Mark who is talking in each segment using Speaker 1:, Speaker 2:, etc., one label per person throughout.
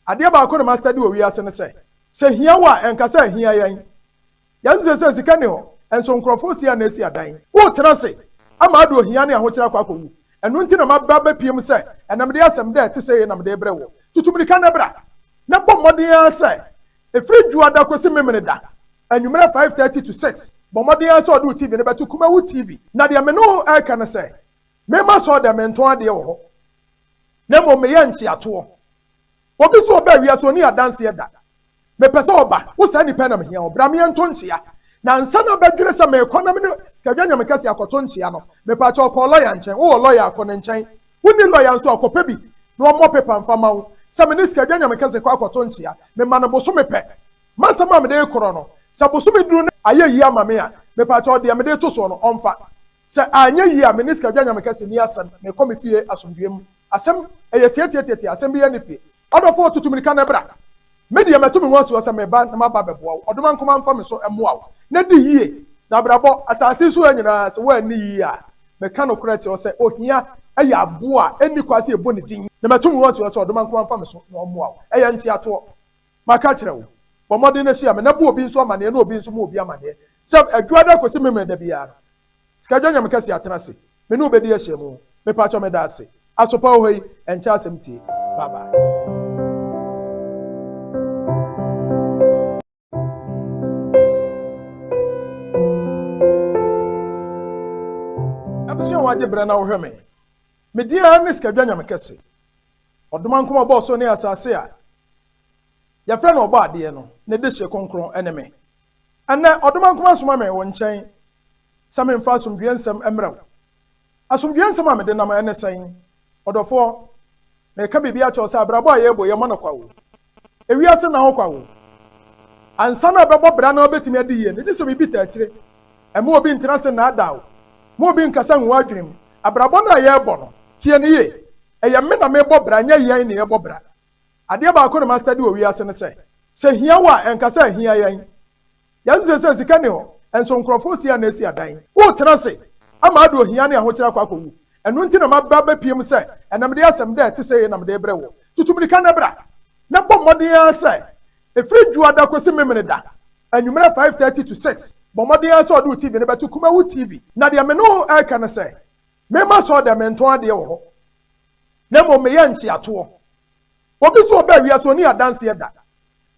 Speaker 1: Adeɛ baako na m'astudy wɔ wiase ne sɛ, sɛ hia wo a, ɛnka sɛ ɛhia yɛn. Yɛse seesei sika nni hɔ, nso nkorɔfoɔ si a na esi adan. Wotena ase ama ado ohia ne ahokyerɛ akɔ akɔwu. Ɛno nti na m'aba abɛpue mu sɛ, ɛnɛ mede asɛm dɛ ɛte sɛie na mede rebrɛ woɔ. Tutu mmirika na bra, na bɔ mmɔden ara sɛ, ɛfiri Dwoada kɔsi Memeneda, anwummerɛ five thirty to six, bɔ mmɔden ara sɛ ɔde wo TV no bɛto Kumawu TV. Na deɛ me ne wo reka ne sɛ, mema sɔɔ dɛ mentɔn adeɛ wɔ hɔ. na mmom meyɛ ntweatoɔ. Obi sɛ ɔba wiase ɔni adanseɛ da. Mepɛ sɛ ɔba, wo saa nipa yi na mehia o, bra me yɛnto nkyea. Na ansa na abɛdwene sɛ merekɔ na me ne Sikadwa Nyamekɛseɛ akɔto nkyea no, mepakyɛ ɔkɔɔ lɔya nkyɛn, wowɔ lɔya a kɔ ne nkyɛn, wonni lɔya nso a kɔpɛ bi na ɔmmɔ pepa mfa ma wo sɛ me ne Sikadwa Nyamekɛseɛ kɔ akɔto nkyea. Mema no bosome pɛ. M'asɛm a mede rekorɔ no, sɛ bosome duru na ayɛ yie ama me a, mepakyɛ ɔdeɛ mede reto soɔ no ɔmfa. Sɛ anyɛ yie a me ne Sikagyɛ Nyame kɛse nni asɛm, mekɔ me fie asomdwoeɛ mu. Asɛm? Ɛyɛ tiatiatiatia, asɛm biara nni fie. Ɔdɔfoɔ, tutu mirika na bra. Me deɛ matu me ho asoɔ sɛ meba na maba abɛboa wo. Ɔdomankoma mfa me so mmoa wo. Na di yie. Na abrabɔ, asase yi so ha nyinaa, sɛ woanni yie a, meka nokorɛ akyerɛ wo sɛ ohia yɛ aboɔ a ɛnni kwan sɛ yɛbɔ ne din. Na matu me ho asoɔ sɛ Ɔdomankoma mfa me so na ɔmmoa wo. Ɛyɛ nteatoɔ. Maka akyerɛ wo, bɔ mmɔden na hyia me, na bu obi nso amanneɛ na obi nso mmu obi amanneɛ, sɛ Adwuada kɔsi Memeneda biara no, Sikadwa Nyamekɛse atena ase, me ne wo bɛdi ahyiamu. Mepakyɛw, meda ase. Aso pa wɔ hɔ yi? Ɛnkyɛ asɛm tie. Bye bye. Abusua a wɔagye berɛ na wɔhwɛ me. Me din ara ne Sikadwa Nyamekɛse. Ɔdomankoma ɔbɔɔ soro ne asase a yɛfrɛ no Ɔbɔadeɛ no ne dehyeɛ kronkron ne me. Ɛnnɛ, Ɔdomankoma asoma me wo nkyɛn sɛ memfa asomdwoeɛ nsɛm mmrɛ wo. Asomdwoeɛ nsɛm a mede nam ne sɛn? Ɔdɔfoɔ, mereka biribi akyerɛ wo sɛ abrabɔ a yɛrebɔ yi, ɛmmɔ no kwa o. Ewiase nna hɔ kwa o. Ansa na ɛbɛbɔ bra na wabɛtumi adi yie no, gye sɛ biribi ta akyire. Mma obi ntena ase nnaadaa wo. Mma obi nnkasa ngu w'adwene mu. Abrabɔ no a yɛrebɔ no, tie no yie, ɛyɛ me na merebɔ bra, nyɛ yɛn na yɛrebɔ bra. Adeɛ baako na mastadi wɔ wiase no sɛ, sɛ ɛhia wo a, ɛnka sɛ ɛhia yɛn. Yɛn se sɛ sika nni hɔ, nso nkurɔfo resia na esi adan. Wotena ase ama ado ohia ne ahokyere akɔ akowu. Ɛno nti na maba abepiem sɛ ɛnɛ mede asɛm dɛ ɛte sɛi na mede rebrɛ wo. Tutu mmirika na bra, na bɔ mmɔden ara sɛ ɛfiri Dwoada kosi Memeneda anwummerɛ five thirty to six, bɔ mmɔden ara sɛ ɔde wo TV no bɛto Kumawu TV. Na deɛ me ne wo reka ne sɛ, memma asɔɔdɛm, mentɔn adeɛ wɔ hɔ, na mmom meyɛ nkyeatoɔ. Obi so ɔbaa wiase ɔni adanseɛ da.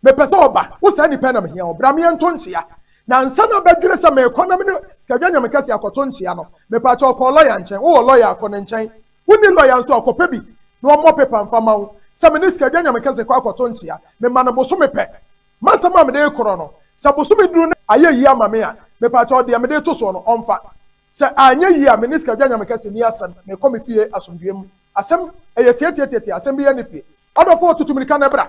Speaker 1: Mepɛ sɛ ɔba. Wo saa nipa yi na mehia o. Bra me yɛ nto nkyea. Na ansa na bɛdwene sɛ merekɔ na me ne Sikadwa Nyamekɛseɛ akɔto nkyea no, mepaakyɛw ɔkɔɔ lɔya nkyɛn. Wowɔ lɔya a, kɔ ne nkyɛn. Wonni lɔya nso a, kɔpɛ bi na ɔmmɔ pepa mfa ma wo sɛ me ne Sikadwa Nyamekɛseɛ kɔ akɔto nkyea. Mema no bosome pɛ. M'asɛm a mede rekorɔ no, sɛ bosome duru na ayɛ yie ama me a, mepaakyɛw deɛ mede reto soɔ no, ɔmfa. Sɛ anyɛ yie a, me ne Sikadwa Nyamekɛseɛ nni asɛm. Mekɔ me fie asomdwoeɛ mu. Asɛm ɛyɛ tiatiatiatia asɛm biara nni fie. Ɔdɔfoɔ tutu mirika na bra.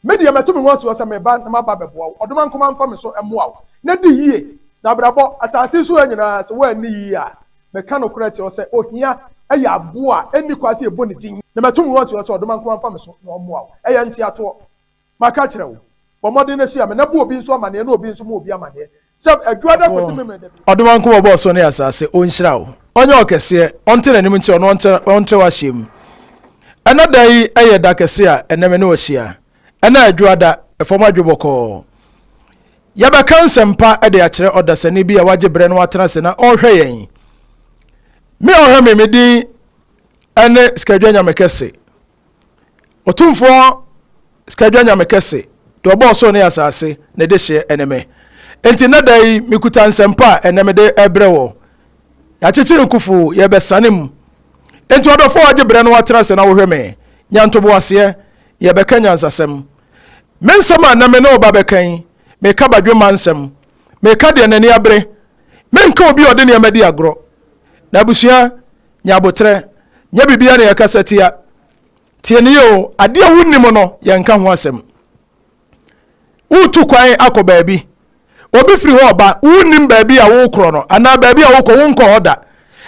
Speaker 1: Me deɛ matu me ho asi hɔ sɛ meba na maba abɛboa wo. Ɔdoma nkoma mfa me so mmoa wo. Na di yie. Na abrabɔ, asase yi so ha nyinaa, sɛ woanni yie a, meka nokorɛ akyerɛ wo sɛ ohia yɛ aboɔ a ɛnni kwan sɛ yɛbɔ ne din. Na matu me ho asi hɔ sɛ ɔdoma nkoma mfa me so na ɔmmoa wo. Ɛyɛ nteatoɔ. Maka akyerɛ wo, bɔ mmɔden na hyia me, na bu obi nso amaneɛ, na obi nso mu obi amaneɛ, sɛ Adwo Ada kɔsi Memeneda biara. Ɔdom a Nkomo bɔɔ soro ne asase, Ɔnhyira wo, Ɔnyɛ wo kɛseɛ, Ɔnte n'anim nkyerɛ wo, na Ɔnkyerɛ wo ahyeɛ mu. Ɛnɛ da yi yɛ da kɛse a ɛnnɛ me ne wo ahyia. Ɛnɛ Adwo Ada, fam adwo bɔkɔɔ. Yɛbɛka nsɛmpa de akyerɛ ɔdasani bi a wagye berɛ na watena ase na ɔrehwɛ yɛn. Me a ɔhwɛ me, me din ne Skadwa Nyamekɛse. Ɔtumfoɔ Skadwa Nyame kɛse, deɛ ɔbɔɔ ɔsoro ne asase, ne dehyeɛ ne me. Enti nnɛ da yi, mekuta nsɛmpa a ɛnnɛ mede rebrɛ wɔ. Yɛakyekyere nkufo, yɛrebɛsane mu. Enti ɔdɔfoɔ a wagye berɛ no atena ase na wohwɛ me, nya ntoboaseɛ, na yɛbɛka nyansasɛm. Me nsɛm a nnɛ me ne wo ba bɛka yi, meka badwemma nsɛm. Meka deɛ n'ani abere. Menka obi a ɔde nneɛma di agorɔ. Na abusua, Nya aboterɛ. Nyɛ biribiara na yɛkasa tia. Tie no yie o. Adeɛ a wonnim no, yɛnka ho asɛm. Woretu kwan akɔ baabi. Obi firi hɔ reba. Wonnim baabi a worekorɔ no anaa baabi a worekɔ, wonkɔ hɔ da.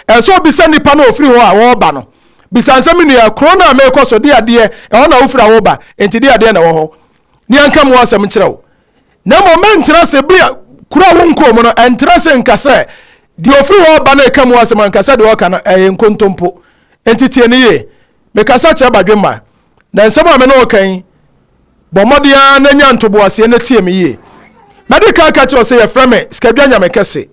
Speaker 1: Ɛsɛ sɛ wobisa nipa no a ɔfiri hɔ a ɔreba no. Bisa no sɛ, Me nua, kuro no a merekɔ so, deɛ adeɛ, ɛhɔ na wofiri a woreba, enti deɛ adeɛ na ɛwɔ hɔ? Na yɛnka mu asɛm nkyerɛ wo. Na mmom mentra ase bea kura wo nkɔɔ mu no, ɛntra ase nka sɛ deɛ ɔfiri hɔ reba no reka mu asɛm anka sɛ deɛ ɔreka no ɛyɛ nkontompo. Enti tie no yie. Mekasa kyerɛ badwemma, na nsɛm a me ne wo reka yi, bɔ mmɔden ara na nya ntoboaseɛ na tie me yie. Mɛde kan aka kyerɛ wo sɛ yɛfrɛ me Skadwa Nyame Kɛse.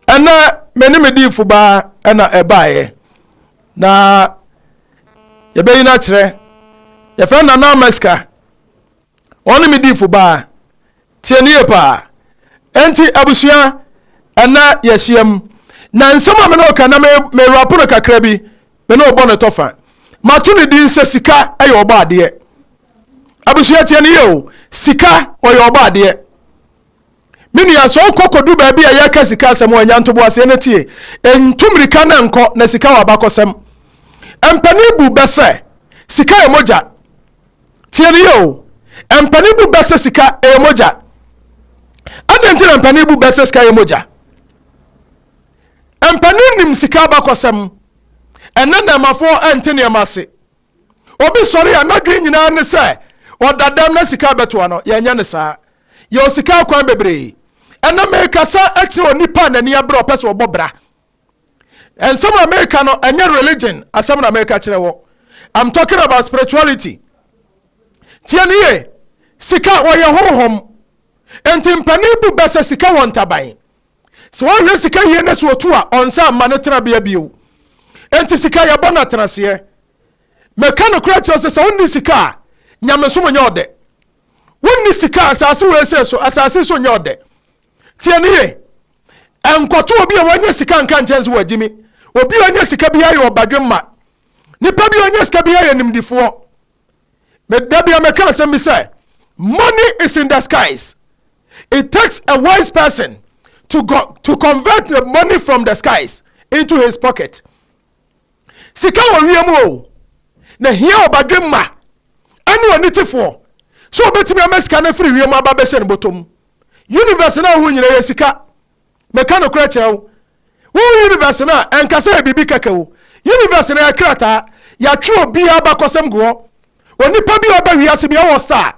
Speaker 1: Ɛnnɛ me ne me diifo baa ɛna ɛbaeɛ, na yɛbɛyi no akyerɛ. Yɛfrɛ no Nana Amaska. Ɔne me difo baa. Tie no yie paa. Enti abusua, ɛnnɛ yɛahyiam, na nsɛm a me ne wo reka na me, me rapo no kakra bi, me ne wo bɔ no tɔ fa. Mato ne din sɛ Sika yɛ ɔbɔ adeɛ. Abusua tie no yie o, Sika ɔyɛ ɔbɔ adeɛ. Me nua, sɛ wokɔ kodu baabi a yɛka sika asɛm wɔ nya ntobo aseɛ na tie. Ntu mmirika na nkɔ, na sika wɔ abakɔsɛm. Mpanin bu bɛ sɛ sika yɛ mogya. Tie no yie o. Mpanin bu bɛ sɛ sika yɛ mogya. Adɛn nti na mpanin bu bɛ sɛ sika yɛ mogya? Mpanin nim sika abakɔsɛm. Ɛnɛ nnɛɛmafoɔ nte nneɛma ase. Obi sɔre a n'adwene nyinaa ne sɛ ɔda dɛm na sika abɛtoa no. Yɛnyɛ no saa. Yɛwɔ sika akwan bebree. Ɛnnɛ merekasa kyerɛ onipa a n'ani abere a ɔpɛ sɛ ɔbɔ bra. Nsɛm a mereka no, ɛnyɛ religion asɛm na mereka kyerɛ wɔ. I'm talking about spirituality. Tie no yie. Sika, wɔyɛ honhom. Enti mpanin bu bɛ sɛ sika wɔ ntaban. Sɛ ɔnhwɛ sika yie na sɛ ɔtu a, ɔnsan mma ne tenabea bio. Enti sika yɛbɔ no atenaseɛ. Meka nokorɛ kyerɛ sɛ sɛ wonni sika a, nyamesom nyɛ ɔdɛ. Wonni sika a, asase wesee so, asase nso nyɛ ɔdɛ. Tie no yie. Ɛnkɔto obi a wanya sika nka nkyɛn sɛ wagyi me. Obi a ɔnya sika biara yɛ ɔbadwemma. Nipa bi a ɔnya sika biara yɛ nimdifoɔ. Me da bia mɛka asɛm bi sɛ money is in the skies. It takes a wise person to go to convert the money from the skies into his pocket. Sika wɔ wiem o na hia ɔbadwemma ɛne ɔnitefoɔ sɛ ɔbɛtumi ama sika no afiri wiem aba bɛhyɛ no bɔtɔm. Universe no a wohu nyina yɛ sika. Meka nokorɛ kyerɛ wo, wo Universe no a ɛnka sɛ ɛyɛ biribi kɛkɛ o, Universe no yɛ krataa, yɛatwerɛ obiara abakɔsɛm gu hɔ, onipa biara ɔba wiase biara ɔwɔ star,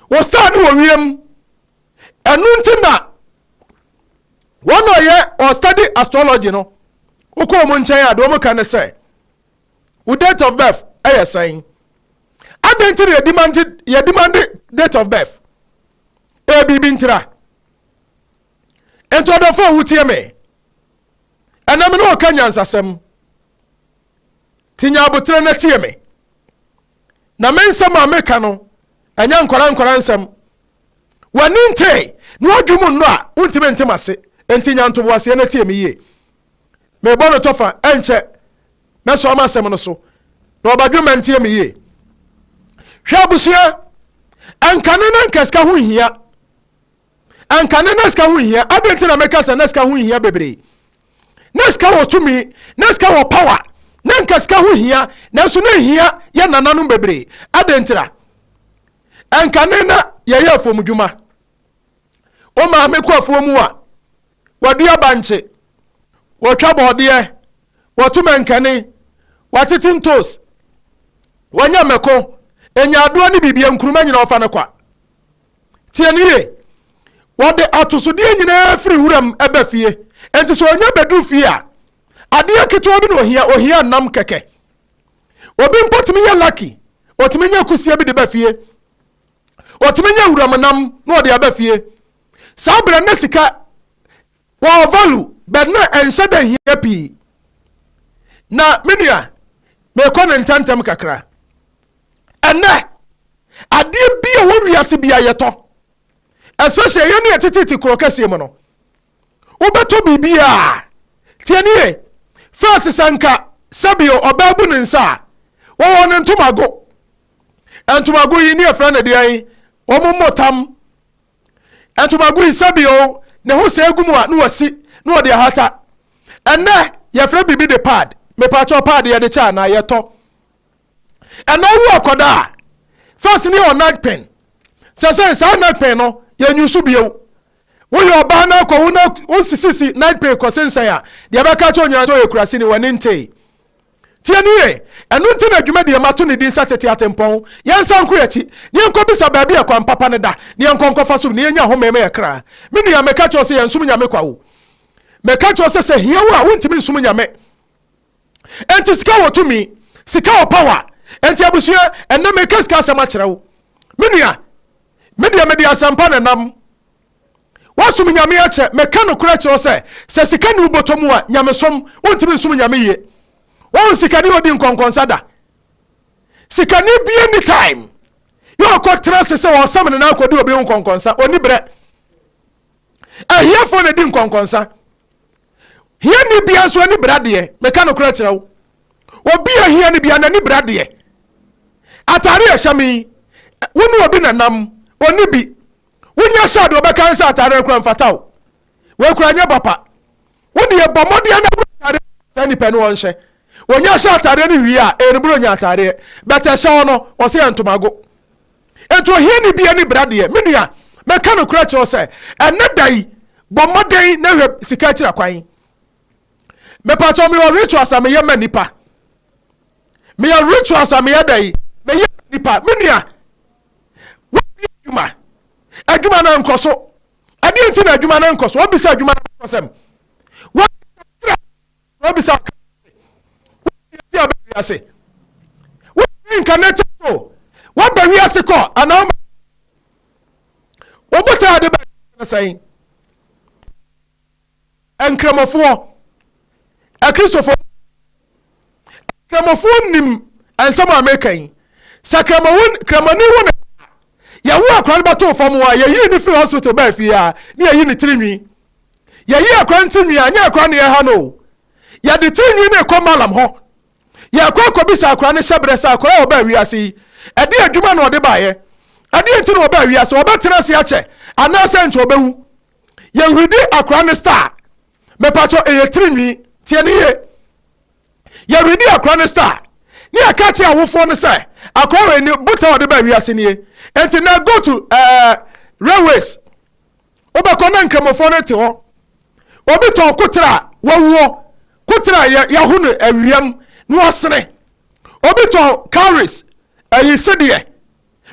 Speaker 1: wo star no wɔ wiem, ɛno nti na wɔn a ɔyɛ ɔ study astrology no, wokɔ wɔn nkyɛn a deɛ wɔn ka ne sɛ, wo date of birth ɛyɛ sɛn, adɛn nti na yɛdimande date of birth, ɛyɛ biribi ntira. nti ɔdɔfo a wotie me ɛnam ne ɔka nyansasɛm ti nya aboterɛ na tie me na me nsɛm a meka no ɛnyɛ nkɔra nkɔra nsɛm w'ani ntee na wadwe mu nnɔ a wontumi ntem ase nti nya ntoboaseɛ na tie me yie mebɔ no tɔfa ɛnkyɛ mɛsɔ ama asɛm no so na ɔbadwe ma ntie me yie hwɛ abusua ɛnkane na nkasika ho hia anka na na sika ho nhia. Adɛn nti na meka sɛ na sika ho nhia bebree? Na sika wɔ tumi, na sika wɔ power, na nka sika ho hia, nanso na nhia yɛ nananom bebree. Adɛn ntira? Anka ne na yɛyɛ afuomdwuma. Wo maame kɔ afuo mu a, wɔadua bankye, wɔtwa bɔɔdeɛ, wɔto mankani, wɔatete ntos, wɔanya mmɛko, ɛnya adoa ne biribia nkuruma nyina wɔfa no kwa. Tie no yie. Wɔde atosodeɛ nyinaa firi wuram ba fie. Enti sɛ ɔnya bɛduru fie a, adeɛ ketewa bi na ɔhia, ɔhia nam kɛkɛ. Obi mpo tumi yɛ lucky, ɔtumi nya kusie bi de ba fie. Ɔtumi nya wuram nam na ɔde aba fie. Saa berɛ no na sika Wɔ value bɛn na ɛnhyɛ da nhia pii? Na me nua, merekɔ no ntɛmntɛm kakra. Ɛnnɛ, adeɛ bi a ɛwɔ wiase bi a yɛtɔ, especially yɛn ne ɛtetete kuro kɛseɛ mu no, wobɛtɔ biribi a, tie nie, first sɛ nka sɛbio ɔbaa bu ne nsa a, wɔwɔ no ntomago. Ntomago yi ne yɛfrɛ no deɛn? Wɔn mmɔ tam Ntomago yi, sɛ bio ne ho sɛɛ gu mu a na wɔsi na wɔde ahata. Ɛnnɛ yɛfrɛ biribi de pad. Mepakyɛw, pad yɛde kyɛ anaa yɛtɔ? Ɛnna wu akɔda a, fɛs ne yɛwɔ nagpen. Sɛsɛn saa nagpen no, yɛnyi so bio. Woyɛ ɔbaa na akɔwo na wonsisisi nagpen kɔsensɛn a, deɛ ɛbɛka akyerɛ wo nyinaa sɛ ɔyɛ kuraseni, w'ani ntee. Tie no yie. Ɛno nti na dwumadi a mato no din sɛ Tete Atempɔn. Yɛnsan nkɔ yɛn akyi, na yɛnkɔbisa baabi a kwan papa no da, na yɛnkɔ nkɔfa so, na yɛnnya home ma yɛn kra. Me nua, meka kyerɛ wo sɛ yɛnsom Nyame kwa o. Meka kyerɛ wo sɛ, sɛ hia wo a, wontumi nsom Nyame. Enti sika wɔ tumi. Sika wɔ power. Enti abusua, ɛnnɛ meka sika asɛm akyerɛ wo. Me nua, me deɛ mede asɛmpa na ɛnam. Woasom Nyame akyɛ. Meka nokorɛ kyerɛ wo sɛ, sɛ sika nni wo bɔtɔ mu a, nyamesom, wontumi nsom Nyame yie. Wahu sikani a ɔdi nkɔnkɔnsa da? Sikani biara nni time yɛ ɔkɔ tena ase sɛ ɔsam ne nan akɔdi obi ho nkɔnkɔnsa. Ɔnni berɛ. Ahiafoɔ na ɛdi nkɔnkɔnsa. Hiani biara nso ani berɛ adeɛ. Meka nokorɛ kyerɛ wo. Obi a hiani biara n'ani berɛ adeɛ. Atare a ɛhyɛ me yi, wo ne obi na nam, ɔnni bi. Wonya hyɛ a deɛ ɔbɛka ne sɛ atadeɛ no koraa mfata wo. Wei koraa nyɛ papa. Wo deɛ bɔ mmɔden ara na hunu atadeɛ a saa nipa no ɔnhyɛ. Ɔnya hyɛ atadeɛ no wie a, ɛyɛ ne Buronya atadeɛ. But ɛhyɛ wo no, ɔse yɛ ntomago. Enti ohiani bi ani bra deɛ, me nua, mɛka nokorɛ kyerɛ wo sɛ, ɛnnɛ da yi, bɔ mmɔden na hwɛ sika akyira kwan. Mepakyɛw mewɔ rituals a meyɛ ma nnipa. Meyɛ rituals a meyɛ dɛn? Meyɛ ma nnipa. Me nua, Wabue adwuma. Adwuma no ankɔ so. Ɛdeɛ nti na adwuma no ankɔ so? Wabisa adwuma no abakɔsɛm. Wabisa ɔkra. Wabisa ɔkra ase. Wabisa ti aba wiase. Wabisa incarnated soul. Waba wiase kɔ anaa wama. Wɔbotaa ade bɛn sɛn. Nkramofoɔ, Akristofoɔ mu Nkramofoɔ nim nsɛm a meka yi. Sɛ kramoni kramoni wo ne ba a, yɛwo akora no bɛtoo fam hɔ a, yɛyii no firi hospital baa fie a, ne yɛyi ne tiri nwi. Yɛyi akora no tiri nwi a, nyɛ akora ne yɛha no o. Yɛde tiri nwi no rekɔ malam hɔ. Yɛrekɔ akɔbisa akora no hyɛ berɛ sɛ akora a ɔbaa wiase yi, ɛde adwuma na ɔde baeɛ. Ɛdeɛ nti na ɔbaa wiase, ɔbɛtena ase akyɛ anaasɛ nkyɛ ɔbɛwu. Yɛ hwidi akora ne star. Mepatwɔ ɛyɛ tiri nwi. Tie ne yie. Yɛ hwidi akora ne star. Ne yɛ ka kye awofoɔ no sɛ akora wei ne botan ɔde baa wiase nie. Enti nɛ go to ɛɛ railways. Wobɛkɔ na nkramofoɔ no te hɔ. Obi tɔn kotere a wawuo. Kotere a yɛ yaho no awia mu na wasene. Obi tɔn cowries ɛyi sedeɛ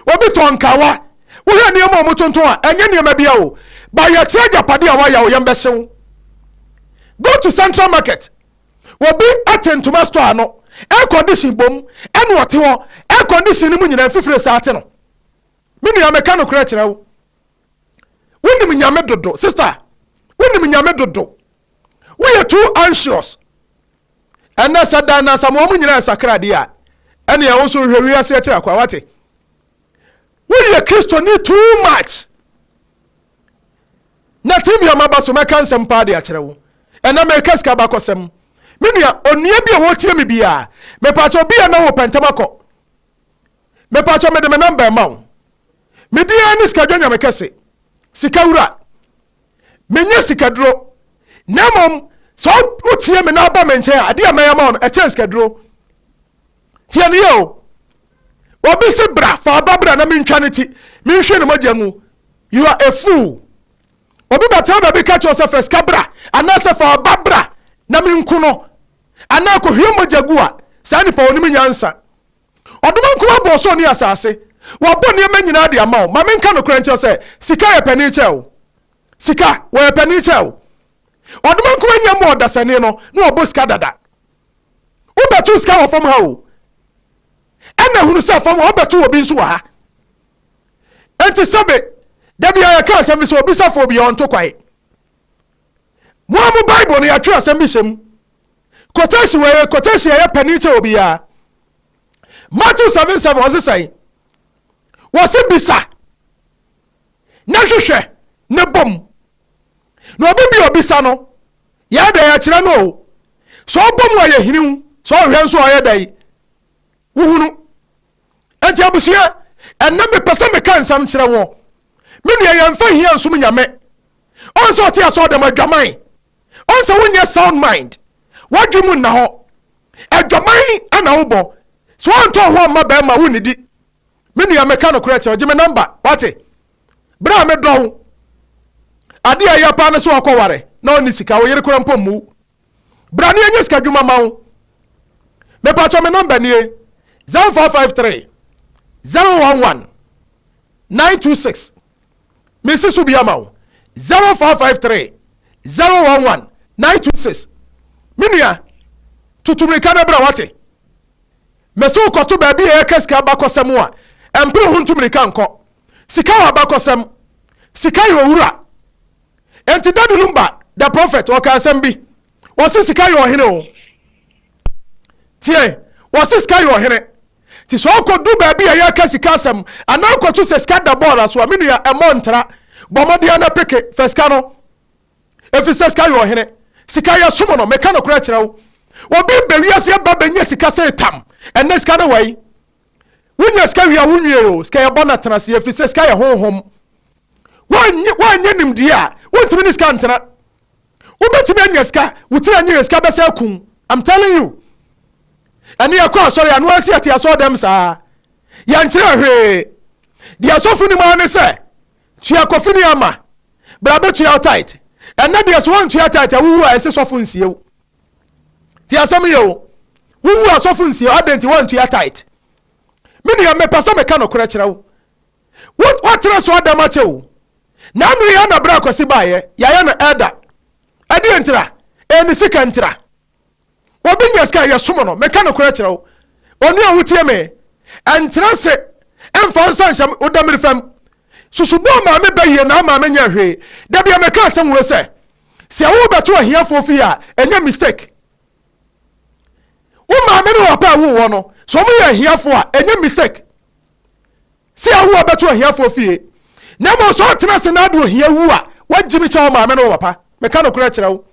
Speaker 1: Obi tɔn kawa, wohwɛ nneɛma a wɔtontɔn a, ɛnyɛ nneɛma biara o, but yɛkyerɛ agyapadeɛ a wayɛ a wo yam bɛhye wo. Go to central market, obi te ntoma store ano, air condition bom, ɛna ɔte hɔ, air condition no mu nyinaa mfifire saa te no. Me nua meka nokorɛ kyerɛ wo, wonim Nyame dodo, sister, wonim Nyame dodo, woyɛ too anxious, Ɛnnɛ, sɛ Dan na Asamoah mu nyinaa sakra de a, ɛnneɛ wo nso hwɛ wiase akyira kwa. Woate? Woyɛ Kristoni too much. Na TV a maba so mɛka nsɛm paa de akyerɛ wo. Ɛnnɛ mereka sika bakɔsɛm. Me nua, onua bi a ɔretie me biara, mepaakyɛ obi a na wopɛ ntɛm akɔ. Mepaakyɛ mede me namba ɛma wo. Me din ara ne Sikadwa Nyame Kɛse, Sika Wura. Menyɛ sikaduro, na mmom sɛ wotie me na woba me nkyɛn a, adeɛ a mɛyɛ ama wo no, ɛkyɛn sikaduro. Tie no yie o. Obi se bra, fa aba bra na mentwa ne ti, menhwie ne mogya ngu. You are a fool. Obi bɛtena baabi ka kyerɛ sɛ fa sika bra, anaasɛ fa aba bra na menku no, anaa kɔhwie mogya gu a, saa nipa onim nyansa. Ɔdom ankomaa bɔɔ soro ne asase. Wabɔ nneɛma nyinaa de ama wo. Ma menka nokorɛ nkyerɛ wo sɛ, sika yɛ panin kyɛn wo. Sika, wɔyɛ panin kyɛn wo. Ɔdom ankomaa nnya mmu ɔdasani no, na wabɔ sika dada. Wobɛtow sika wɔ fam ha o, ɛnna hunu sɛ fam hɔ wobɛtow obi nso wɔ ha. Enti sɛbe, da biara yɛka asɛm bi sɛ obisafoɔ biara ɔnto kwae. Mo a mo Bible no, yɛatwerɛ asɛm bi hyɛ mu. Quotation wei yɛ quotation a ɛyɛ panin kyɛ obiara. Matthew seven seven ɔse sɛn? Wɔse bisa na hwehwɛ ne bom. Na obi bi obisa no yɛyɛ dɛn akyerɛ no o. Sɛ ɔbom a ɔyɛ hiniw, sɛ ɔhwɛ nso a ɔyɛ dɛn wohunu. Enti abusua, ɛnɛ mepɛ sɛ meka nsɛm kyerɛ wɔn. Me nua yɛmfa hia nsom Nyame. Ɔn sɛ ɔte asɔɔdɛm adwaman Ɔn sɛ wonyɛ sound mind, w'adwen mu nna hɔ. Adwaman na wobɔ. Sɛ woantɔ wo ho amma bɛɛma a, wonnidi. Me nua, meka nokorɛ kyerɛ wo, gye me nɔmba, wate? Berɛ a medɔ wo, adeɛ a ɛyɛ paa ne sɛ ɔkɔ ware na ɔnni sika, wo yere koraa mpo mmu wo. Bra ne yɛnyɛ sika dwuma ma wo. Mepakyɛ me nɔmba nie, 0453 011 926. Mesi so bi ama wo, 0553 011 926. Me nua, tutu mmirika na bra wate. Mese wo kɔto baabi a yɛka sika abakɔsɛm a, ɛmpere ho ntu mmirika nkɔ. Sika wɔ abakɔsɛm. Sika yɛ owura. Enti Daddy Lumba, the prophet, ɔka asɛm bi. Wɔse sika yɛ ɔhene o. Tie, wɔse sika yɛ ɔhene. Nti sɛ ɔkɔdu baabi a yɛka sika asɛm anaa kɔto sɛ sika da bɔɔla so a, me nua ɛmmɔ ntra. Bɔ mmɔden ara na peke, fa sika no. Ɛfiri sɛ sika yɛ ɔhene. Sika yɛsom no. Meka nokorɛ kyerɛ wo. Obi reba wiase aba bɛnya sika sei tam. Ɛnnɛ sika ne wai. Wonya sika wie a wonwie o. Sika yɛbɔ no atena ase ɛfiri sɛ sika yɛ honhom. Woanyɛ nimdeɛ a, wontumi ne sika ntena. Wobɛtumi anya sika wo tiri anyi hwɛ sika bɛsɛ akum I'm telling you ɛne yɛkɔ asɔre ano asi ɛte asɔre dɛm saa yɛnkyerɛ hwee deɛ asɔfo nim ara ne sɛ tua kɔfini ama bra bɛtua tight ɛnɛ deɛ so wɔntua tight a wowu a ɛsɛ sɔfo nsiew te asɛm yɛ o wowu asɔfo nsie adɛn nti wɔntua tight me nua mepɛ sɛ meka nokorɛ kyerɛ wo Wo woatena so ada makyɛ o na ano yɛ na bra kwasi baayɛ yayɛ no ɛda ɛdeɛ ntira ɛyɛ ne sika ntira obi nya sika yɛ somo no meka no korɛ kyerɛ wo onua wo tie me ɛntena se ɛmfa nsa nhyɛ wo damiri fam susu bɔɔ maame bɛ yie na amaame nyɛ hwee da bia meka asɛm wuro sɛ sɛ wo bɛto ahiafoɔ fie a ɛnyɛ mistake wo maame ne wɔ paa wo wɔ no so ɔmo yɛ ahiafoɔ a ɛnyɛ mistake sɛ Yehowa bɛto ahiafoɔ fie, na mmom sɛ ɔtena ase na ade ohia wu a, wagye me kyɛ wo maame ne wo papa. Meka nokorɛ kyerɛ wo,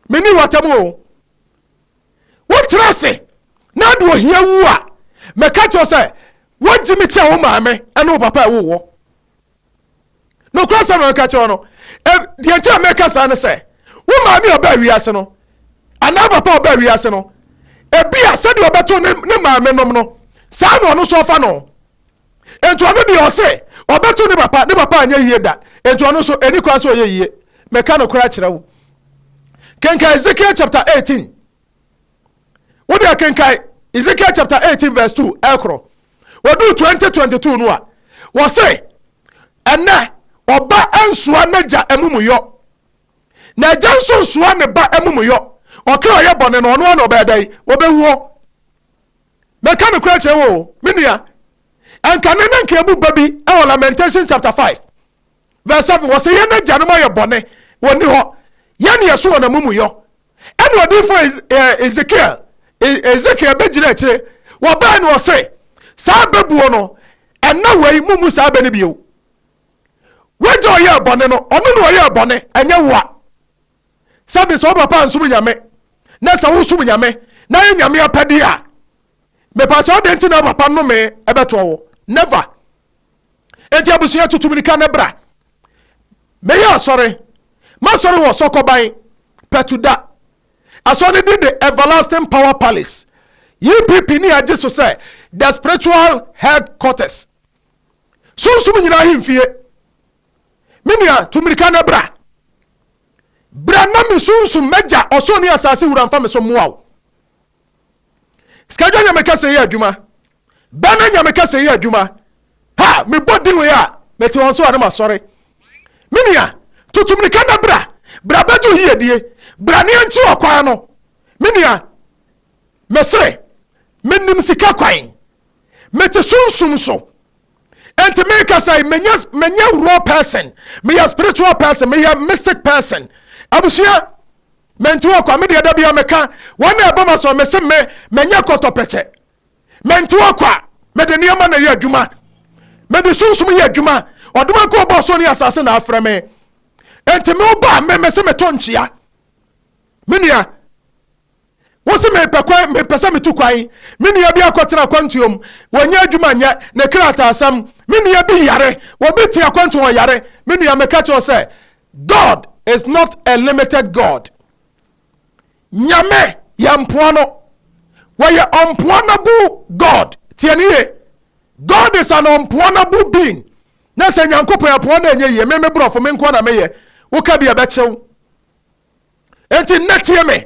Speaker 1: menni w'atam oo. Wotena ase na ade ohia wu a, meka kyerɛ wo sɛ, wagye me kyɛ wo maame ne wo papa a ɛwoo woɔ. nokorɛ sɛm na meka kyerɛ wo no deɛ nti a meka saa ne sɛ wo maame a ɔbaa wiase no anaa papa a ɔbaa wiase no ebi a sɛdeɛ ɔbɛto ne ne maame nom no saa na ɔno nso ɔfa no nti ɔno deɛ ɔse ɔbɛto ne papa ne papa anyɛ yie da nti ɔno nso ɛni kwan sɛ ɔyɛ yie meka nokorɛ akyerɛ wo kenka Ezekiel chapter 18 wode akenkan ezekiel chapter 18 verse 2 ɛkorɔ wɔduu 2022 no a wɔse ɛnɛ ɔba nsoa n'agya amumuyɔ na agya nso nsoa ne ba amumuyɔ ɔka ɔyɛ bɔne no ɔno ana ɔbɛyɛ dɛn ɔbɛwuo mɛka no kora kyerɛ wo me nua ɛnka ne ne nka ɛbu ba bi ɛwɔ lamentation chapter 5 Verse 7, Wɔse yɛn agyanom ayɛ bɔne, wɔnni hɔ, yɛn ne yɛso wɔn amumuyɔ. Ɛna odiyifoɔ Ez, eh, Ezekiel, E- Ezekiel bɛgyina akyire, wɔbae na ɔse, Saa bɛbuo no, ɛnna wei mommu saa bɛ no bio. W'agya ɔyɛɛ bɔne no, ɔno na ɔyɛɛ bɔne, ɛnyɛ wo a. sɛde sɛ wo papa nsom Nyame na sɛ wosom Nyame na yɛ Nyame apɛdeɛ a, mepakyɛw dɛn nti na wo papa nnome ɛbɛtoɔ wo? Never! Enti abusua tutu mirika na bra. Meyɛ asɔre, m'asɔre wɔ Sɔkɔban, Pɛtuda. Asɔre no din de Everlasting Power Palace. EPP ni agye so sɛ the spiritual headquarters. Sunsum nyinaa ahemfie. Me nua, tu mmirika na bra. Bra na me sunsum, m'Agya, ɔsoro ne asase Wura mfa me so mmoa wo. Sikadwa nyame kɛse yɛ adwuma. Bɛna nyame kɛse yɛ adwuma. Ha, mebɔ din wei a, mete wɔn so a na masɔre. Me nua, tutu mmirika na bra. Bra bɛgye wo yiyedie. Bra ne yɛnkye ɔkwan no. Me nua, mesere, menim sika kwan. Mete sunsum so. Enti meka sɛ menyɛ menyɛ raw person, meyɛ spiritual person, meyɛ mystic person. Abusua, menti wɔ kwa, me deɛ da bia meka, wɔn na ɛbɔ ma sɔ, mese me, menyɛ kɔtɔpɛkyɛ. Menti wɔ kwa, mede nneɛma na yɛ adwuma. Mede sunsum yɛ adwuma. Ɔdoma nko ɔbɔ so ne asase na afrɛ me. Enti me ba me mese meto nkyea. Me nua, Wose mepɛ kwan, mepɛ sɛ metu kwan. Me nua bi akɔtena akwantuo mu, wɔnnya adwuma nyɛ, ne kra taa asɛm. Me nua bi yare, obi te akwantuo ho ɔyare. Me nua, meka kyerɛ wo sɛ, God is not a limited God. Nyame yɛ mpoa no. Wɔyɛ unpoanable God. Tie no yie. God is an unpoanable being. Na sɛ Nyankopɔn yɛ poa na ɛnyɛ yie, me me borɔfo, me nkoa na meyɛ. Woka bi a ɛbɛkye wo. Enti nnɛ tie me.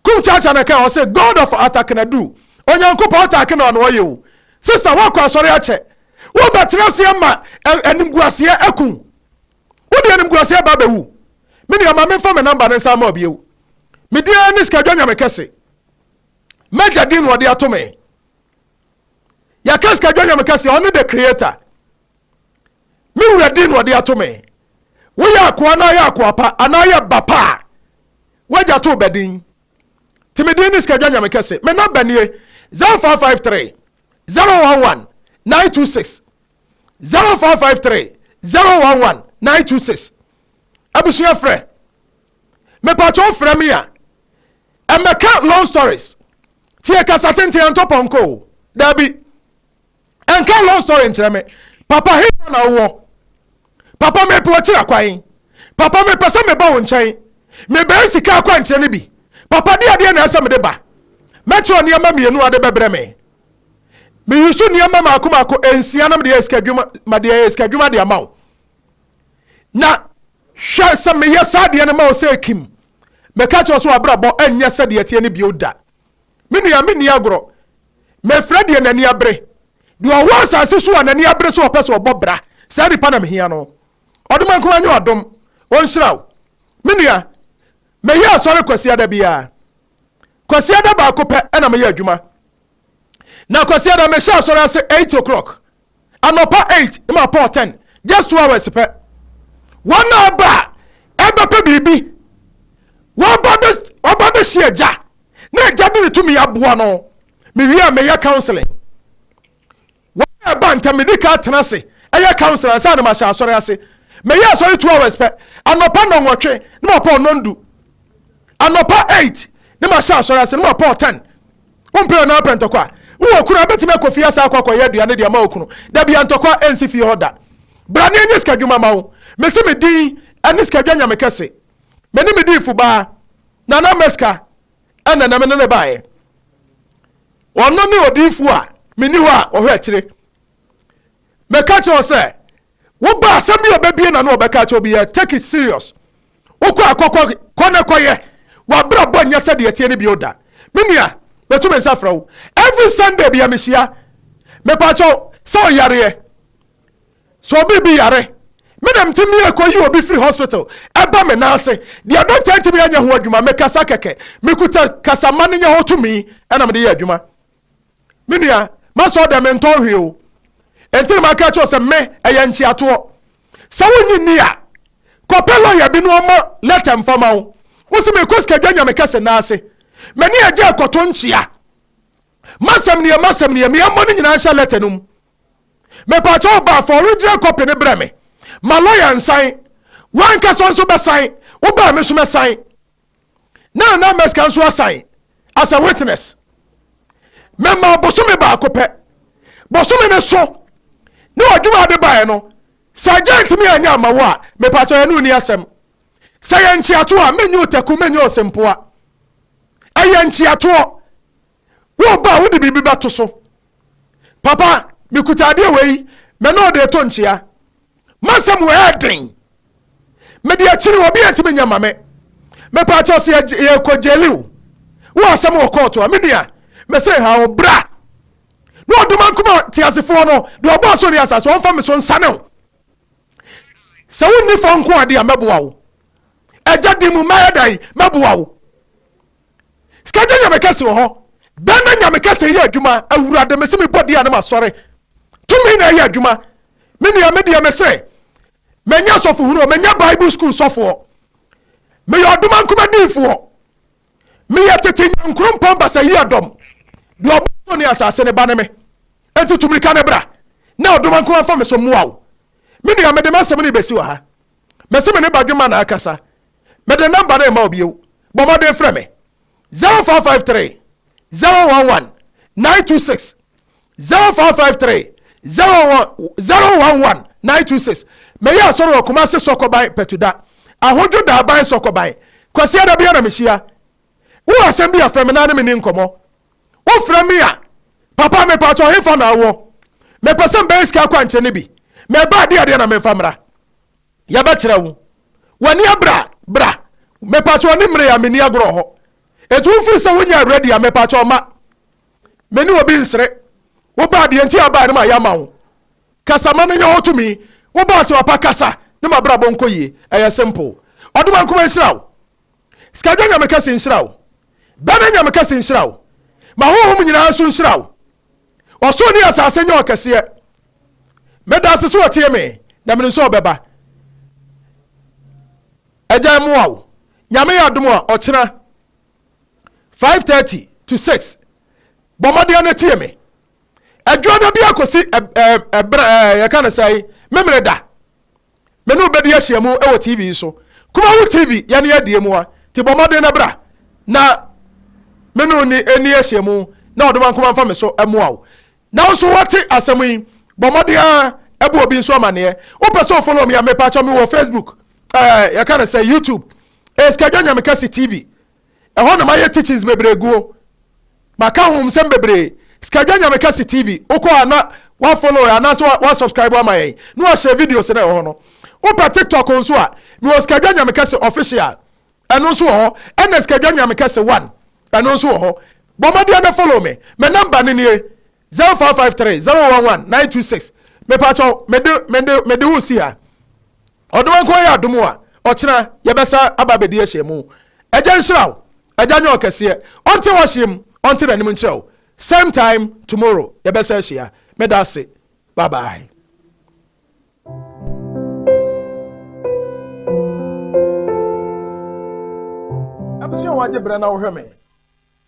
Speaker 1: Kum Chacha na ɛka ɔse God of Atakenadu, Onyankopɔn Atakenɔ na ɔyɛ o. Sister woakɔ asɔre akyɛ, wobɛtena aseɛ ma animguaseɛ aku wo. Wode animguaseɛ ba abɛwu. Me nua ma memfa me number no nsan ma wo bio. Me din ara ne Sikadwa Nyamekɛse. M'agya din na ɔde ato me. Yɛka Sikadwa Nyamekɛse a, ɔne the creator. Me wura din na ɔde ato me. Woyɛ akoa anaa yɛ akoa pa anaa yɛ ba pa a, w'agya too bɛ din. Te me din ne Sikadwa Nyame Kɛse. Me nɔmba nie, 0553 011 926, 0553 011 926. Abusua frɛ. Mepakyɛw frɛ me a, ɛmmɛka long stories. Tie kasa tenten antɔ pɔnkɔ o. Daabi. Ɛnka long story nkyerɛ me. Papa hefa na wowɔ? Papa mepɛ ɔkyira kwan. Papa mepɛ sɛ meba wo nkyɛn. Mebɛyɛ sika akwankyerɛ no bi. Papa de adeɛ na ɛsɛ mede ba. Mɛkyerɛw nneɛma mmienu a de bɛbrɛ me. Me yusu nneɛma maako maako nsia na mede ayɛ sika adwuma mede ayɛ sika adwuma de ama wo. Na hwɛ sɛ meyɛ saa adeɛ no ma wo sɛ Kim. Mɛka kyerɛ wo sɛ w'abrabɔ ɛnyɛ sɛdeɛ ɛteɛ no bio da. Me nua, menni agorɔ. Mefrɛ deɛ n'ani abere. Deɛ ɔwɔ asase so a n'ani abere sɛ ɔpɛ sɛ ɔbɔ bra, saa nipa na mehia no. Ɔdom nko ara nyɛ ɔdom. Wɔnhyira wo. Me nua, mɛyɛ asɔre Kwasiada biara. Kwasiada baako pɛ na meyɛ adwuma. Na Kwasiada mehyɛ asɔre ase eight o'clock Anɔpa eight ma pɔn ten, just two hours pɛ. Wɔn na ɛba a ɛbɛpɛ biribi. Wɔba bɛ wɔba bɛsi agya na agya de ne tumi aboa no. Mewie a meyɛ counseling. Wɔn na ɛba ntɛm medi ka atena ase ɛyɛ counseling ansa na mahyɛ asɔre ase. Meyɛ asɔre two hours pɛ. Anɔpa nnɔnwɔtwe na mapɔn nnɔndu. Anɔpa eight na mahyɛ asɔre ase na mapɔn ten. Wompɛ ɔno ara pɛ ntɔkwa? Wowɔ kunu a, bɛtumi akɔ fie asa akɔ akɔyɛ aduane de ama wo kunu. Dabi, antɔkwa ɛnsi fie hɔ da. Bra ne ɛnyɛ sikadwuma ma wo. Mese me din ɛne sikadwa nyame kɛse. Me ne me diifo baa, Nana Meska ɛna na me ne no baeɛ. Ɔno ne odiifo a menni hɔ a ɔhwɛ akyire. Meka kyerɛ wo sɛ, Wo ba asɛm bi a ɔbɛbue n'ano a ɔbɛka akyerɛ wo biara, take it serious. Wokɔ a kɔkɔ, kɔ na kɔyɛ. W'abrabɔ nyɛ sɛdeɛ ɛteɛ no bio da. Me nua, matu me nsa frɛ wo. Every Sunday biara mehyia. Mepa akyɛw, sɛ ɔyareɛ, sɛ obi bi yare, me na mete mia kɔ yi obi firi hospital ɛba me nan ase. Deɛ dɔkta ntumi anyɛ ho adwuma, mekasa kɛkɛ. Mekuta kasama no nyɛ ho tumi ɛna mede yɛ adwuma. me nua masɔ dɛ mentɔ hwee o ɛnti na maka kyerɛ sɛ me ɛyɛ nkyeatoɔ sɛ wonyi nni a kɔpɛ lɔya bi na ɔma lɛta mfa ma wo wosi mekɔ sikadwa nyame kɛse nan ase mani agya ɛkɔto nkyea masɛm neɛ masɛm neɛ meɛmmɔ no nyinaa nhyɛ lɛta no mu mepaakyɛ wo baa fa original copy ne brɛ me ma lɔya nsan wankasa nso bɛsan wobaa me nso mɛsan na Nana Meskah nso asan as a witness. Mema bosome baako pɛ. Bosome no so ne ɔdwomaa de baeɛ no, sɛ agya ntumi anyɛ ama wo a, mepakyɛ yɛne wo ni asɛm. Sɛ yɛ nkyeatoɔ a, menyɛ otaku, menyɛ osempoa. Ɛyɛ nkyeatoɔ. Wo ba a wode biribi bɛto so. Papa, mekuta adeɛ wei, me ne wo de reto nkyea. M'asɛm wɔ ɛyɛ den. Mede akyiri obi antumi nyɛ ma me. Mepɛ akyɛw sɛ yɛkɔ gyeli wo. Wo asɛm wɔ kɔɔto a, me nua, mese ha wo bra. Na ɔdom ankoma teasefoɔ no, deɛ ɔbɔ aso ne asase, ɔmfa me so nsane wo. Sɛ wonni fɔ nko ade a, mɛboa wo. Agya di mu, mɛyɛ dɛn? Mɛboa wo. Sika gye Nyame kɛse wɔ hɔ. Dɛn na Nyame kɛse yɛ adwuma? Awurade, mese mebɔ din a na masɔre. Tumi na ɛyɛ adwuma. Me nua, me deɛ mese, manya asɔfohunu o, manya Bible school sɔfoɔ, meyɛ ɔdomankoma diifoɔ, meyɛ tete Nyankoropɔn Basayiadɔm, deɛ ɔbɔ so ne asase ne ba ne me. Enti tu mirika ne bra, na ɔdomankoma mfa me so mmoa wo. Me nua, mede m'asɛm no rebɛsi wɔ ha. Mese me ne Badwemma na akasa. Mede nɔmba no rema wo bio, bɔ mmɔden frɛ me, 0453 011 926, 0453 011 926. Meyɛ asɔre wɔ Kumasi Sɔkɔban Patuda, Ahodwo Daaban Sɔkɔban. Kwasia da bia na mehyia. Wowɔ asɛm bi a frɛ me na ne me ni nkɔmmɔ. Wofrɛ me a, papa me paatɔ hefa na awɔ? Mepɛ sɛ mbɛyɛ sika akwankyerɛ no bi. Mɛba adeɛ adeɛ na memfa mmra. Yɛbɛkyerɛ wo. W'ani abere a, bra. Mepakyɛw ne mmere a menni agorɔ hɔ. Enti wofiri sɛ wonyɛɛ ready a, mepakyɛw ma me ne obi nsere. Wobaa deɛ nti a wobaeɛ no mayɛ ama wo. Kasa ma no nyɛ hɔ tumi. Wobaa sɛ wapa kasa ne m'abrabɔ nkɔ yie. Ɛyɛ simple. Ɔdomankoma nhyira wo. Skagwɛ Nyame kɛse nhyira wo. Bɛne Nyame kɛse nhyira wo. Ma honhom nyinaa nso nhyira wo. Ɔsoro ne asase nyɛ ɔkɛseɛ. Meda ase sɛ ɔtie me na menim sɛ ɔbɛba. Agya mmoa wo. Nyame yɛ adom a, ɔkyena five thirty to six bɔ mmɔden na tie me. Adwuada biara kɔsi ɛberɛ ɛɛ yɛka no sɛn Memeneda. Me ne wo bɛdi ahyiamu wɔ TV yi so. Kumawo TV, yɛne adie mu a, nti bɔ mmɔden na bra na me ne wo nni nni ahyiamu na ɔdom ankoman mfa me so mmoa wo. Na wo nso woate asɛm yi, bɔ mmɔden ara bɔ obi nso amaneɛ. Wo pɛ sɛ wo follow me a, me pakyɛ me wɔ Facebook, eh, yɛka no sɛ YouTube, eh, Sikadwa Nyamekɛse TV, ɛhɔ na mayɛ teachings bebree guo, maka ahomsɛm bebree, Skadwa Nyamekɛse TV, wokɔ a na wa follow yɛn anaasɛ wa, wa subscribe ama yɛn na wahyɛ videos no ɛwɔ hɔ no. Wopɛ TikTok nso a, mewɔ Skadwa Nyamekɛse official, ɛno nso wɔ hɔ, ɛna Skadwa Nyamekɛse one, ɛno nso wɔ hɔ. Bɔ mmɔden na follow me, me number no nie, Zero four five three zero one one nine two six Mepakyɛw mede mede mede wo si ha. Ɔno nko ayɛ adom a ɔkyena yɛbɛsa aba abɛdi ahyiamu. Agya nhyira wo. Agya nyɛ ɔkɛseɛ. Ɔnte w'ahyeɛ mu. Ɔnte n'anim nkyerɛ wo. Same time tomorrow yɛbɛsa ahyia. Meda ase. Bye bye. Abusua wɔn agye brɛ na wɔhwɛ me.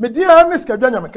Speaker 1: Me din ara ne Sikadwa Nyamekɛse.